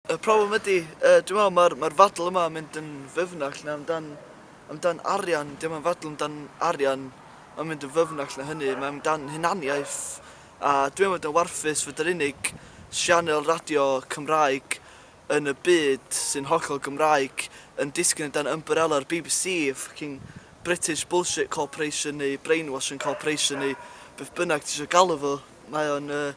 Y problem ydy, yy dwi me'wl ma'r ma'r ddadl yma yn mynd yn fyfnach na amdan amdan arian, 'di o'm yn ddadl amdan arian, ma'n mynd yn fyfnach na hynny, mae amdan hunaniaeth a dwi yn fod yn warthus fod yr unig sianel radio Cymraeg yn y byd sy'n hollol Gymraeg yn disgyn o dan ymbarela'r bbc, ffycin British bullshit corporation neu brainwashing corporation neu beth bynnag ti isio galw fo, mae o'n yy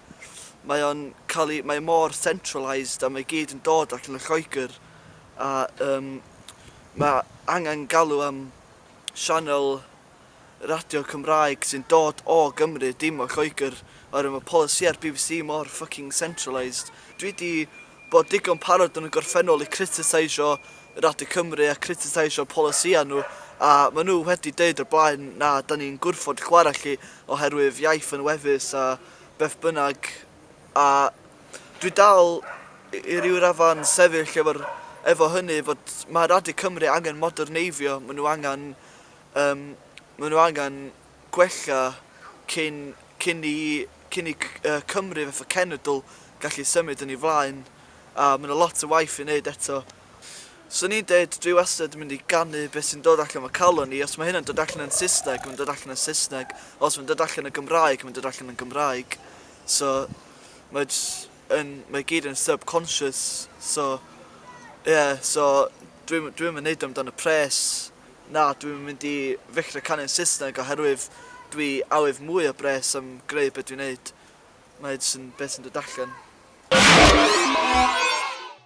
mae o'n cael ei... mae mor centralised a mae gyd yn dod allan o Lloegr a yym mae angen galw am sianel radio Cymraeg sy'n dod o Gymru dim o Lloegr oherwydd mae polisïau'r bbc mor fucking centralised. Dwi 'di bod digon parod yn y gorffennol i critiseisio Radio Cymru a critiseisio polisïau nhw a maen nhw wedi deud o'r blaen na 'dan ni'n gwrfod chwarae chi oherwydd iaith yn wefus a beth bynnag a dwi dal i ryw raddfa'n sefyll efo'r efo hynny fod mae Radio Cymru angen moderneiddio maen nhw angen Yym, maen nhw angen gwella cyn, cyn i, cyn i Cymru fatha cenedl gallu symud yn ei flaen, a mae 'na lot o waith i wneud eto. 'Swn i'n deud, dwi wastad yn mynd i ganu beth sy'n dod allan fy calon i, os mae hynna'n dod allan yn Saesneg, mae'n dod allan yn Saesneg, os mae'n dod allan yn Gymraeg, mae'n dod allan yn Gymraeg. So, mae jyst yn, mae i gyd yn subconscious, so, ie, so, dwi'm, dwi'm yn neud o amdan y pres. Na, dwi'm yn mynd i ddechre canu'n Saesneg oherwydd dwi awydd mwy o bres am greu be dwi'n neud. Mae e jyst yn beth sy'n dod allan.